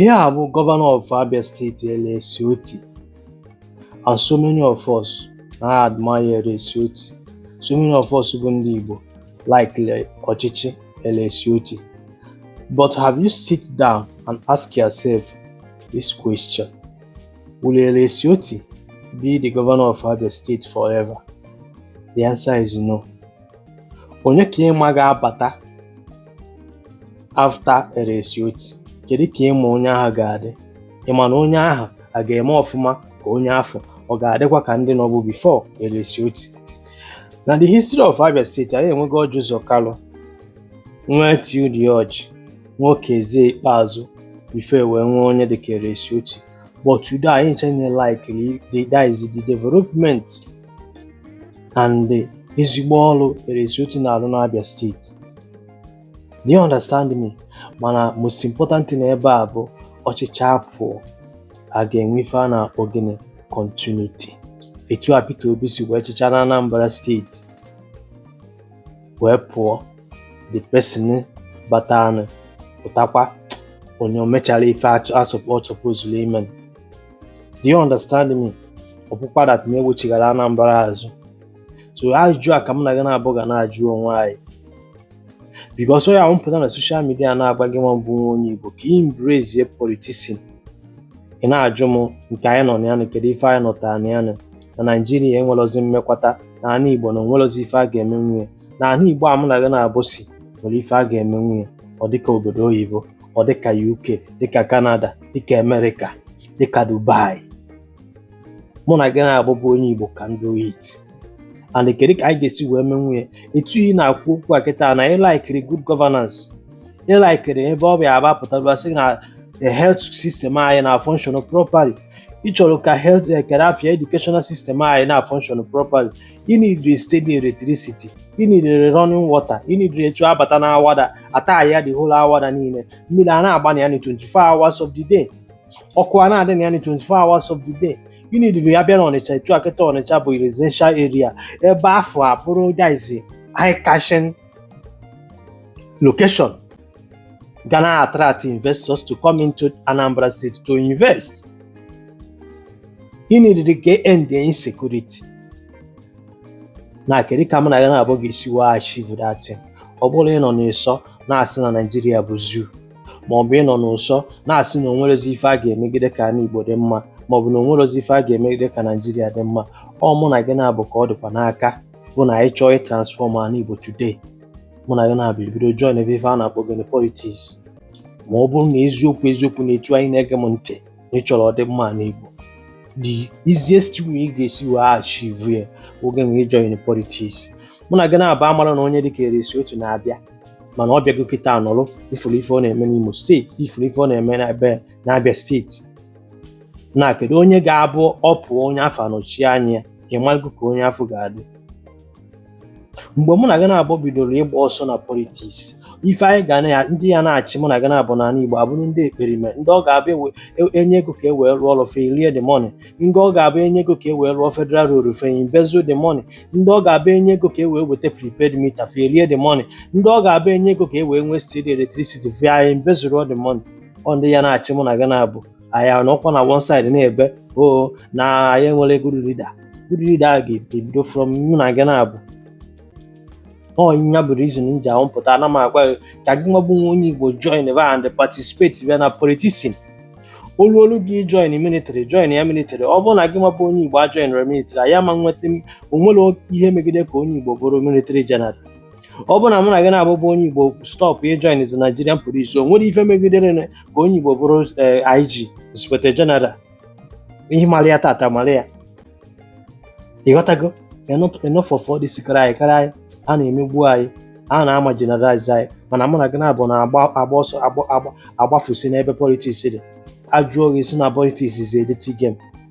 Ihe a bụ governor of Abia state Alex Otti and so many of us na admire Alex Otti so many of us bụ ndị Igbo laikiri ọchịchị Alex Otti but have you sit down and ask yourself this question will Alex Otti be the governor of Abia state forever the answer is no onye ka ịma ga-abata after Alex Otti kedu ka ịma onye ahụ ga-adị ịma na onye ahụ a ga-eme ọfụma ka onye afụ ọ ga-adịkwa ka ndị nọbu before Alex Otti na the history of Abia State anyị enwego Orji Uzor Kalu nwee Theodore Orji nwee Okezie Ikpeazu before wee nwee onye dịka Alex Otti but today anyị ncha nine like the, that is the development and ezigbo ọrụ Alex Otti na-arụ n'Abia steeti do you understand me mana most important thing ebe a bụ ọ chịchaa pụọ a ga-enwe ife a na-akpọ gịnị continuity etu a Peter Obi si wee chịcha na Anambra steeti wee pụọ the person batanụ pụtakwa onye o mechara ife ọ sọpozuru ime do you understand me ọ pụkwa that na-ewechighara Anambra azụ so ajụjụ a ka m na gị naabọ ga na-ajụ onwe anyị because onye ahụ m pụta na social media na-agwa gị nwa bụ onye Igbo ka ị embrace politics ị na-ajụ m nke anyị nọ na ya na kedu ife anyị nọtara na ya na na Naijiria enwerozi mmekwata na ana Igbo na o nwerozi ife a ga-emenwu ya na ana Igbo a mụ na gị naabọ si nwere ife a ga-emenwu ya ọ dịka obodo oyibo ọ dịka UK dịka Canada dịka Amerịka dịka Dubai mụ na gị naabọ bụ onye Igbo can do it and kedu ka anyị ga-esi wee menwu ya etu ị na-akwu okwu a kịta na ịlaikiri good governance ịlaikiri ebe ọ bịa aba pụtara sị na the health system anyị na function properly ị chọrọ ka health eh, care afia educational system anyị na function properly ị nidiri steady electricity ị nidiri running water ị nidiri etu a bata na Awada ata ya the whole Awada niile mmiri a na-agba na ya ni 24 hours of the day ọkụ a na-adị na ya ni 24 hours of the day ị nidiri a bịa na Ọnịcha etu a kịta Ọnịcha bụ residential area ebe afụ abụrụ that is eye catching location ga na-attract investors to come into Anambra State to invest ị nidiri ka end insecurity na kedu ka mụ na gị naabọ ga-esi wee achieve that thing ọ bụrọ ịnọ n'ụsọ na-asị na Naịjirịa bụ zoo ma ọ bụ ịnọ n'ụsọ na-asị na o nwerozi ife a ga-emegide ka ana Igbo dị mma ma ọ bụ na o nwerozi ife a ga-emegide ka Naịjirịa dị mma ọ mụ na gị naabọ ka ọ dịkwa n'aka bụ na anyị chọọ ịtransfọm ala Igbo today mụ na gị naabọ ebido joinibe ife a na-akpọ gịnị politiks ma ọ bụrụ na eziokwu eziokwu na etu anyị na-ege m ntị na ị chọrọ ọdịmma ala Igbo the easiest way ị ga-esi wee achieve ya ọ gị nwa join politiks mụ na gị naabọ amara na onye dịka Alex Otti na-abịa mana ọ bịago kịta anọrụ ị furu ife ọ na-eme n'Imo steeti ị furu ife ọ na-eme n'ebe n'Abịa steeti na kedu onye ga-abụ ọ pụọ onye afụ anọchi anya ị mago ka onye afụ ga-adị mgbe mụ na gị naabọ bidoro ịgba ọsọ na politiks ife anyị ga na ya ndị ya na-achị mụ na gị naabọ n'ala Igbo abụrụ ndị ekperime ndị ọ ga-abụ ewe- e- e nye ego ka e wee rụọ ọrụ fa erie the money ndị ọ ga-abụ e nye ego ka e wee rụọ federal road fa embezzle the money ndị ọ ga-abụ e nye ego ka e wee weta prepaid meter fa erie the money ndị ọ ga-abụ e nye ego ka e wee nwee steady electricity fa anyị embezzle all the money ọ ndị ya na-achị mụ na gị naabọ anyị anọkwa na one side na-ebe o oh, na anyị enwere good leader good leader a ga-ebido from mụ na gị naabọ ọ nya bụ reason m ji apụta ana m agwa gị ka gị nwa bụ nwa onye Igbo joinibe and participatebe na politician olu olu gị join military joinia military ọ bụrụ na gị nwa bụ onye Igbo a joinere military ya ma nweta o nwere ihe megide ka onye Igbo bụrụ military general ọ bụrụ na mụ na gị naabọ bụ onye Igbo stọpụ ịjoin the Nigerian police o nwere ife megidere na ka onye Igbo bụrụ eh, IG inspector general ihe mara ya tata mara ya ị ghọtago enough of all this crying crying a na-emegbu anyị a na-amarginalize anyị mana mụ na gị naabọ na-agba agba ọsọ agba agba agbafusi n'ebe politiks dị a jụọ gị ị sị na politiks is a dirty game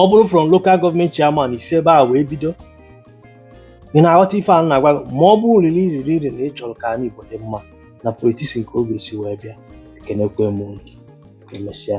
ọ bụrụ from local gọọmenti chairman ị si ebe a wee bido ị na-aghọta ife a na-agwa gị ma ọ bụrụ really really really na ị chọrọ ka ala Igbo dị mma na politiks ka ọ ga-esi wee bịa ekenekwe m unu ka emesịa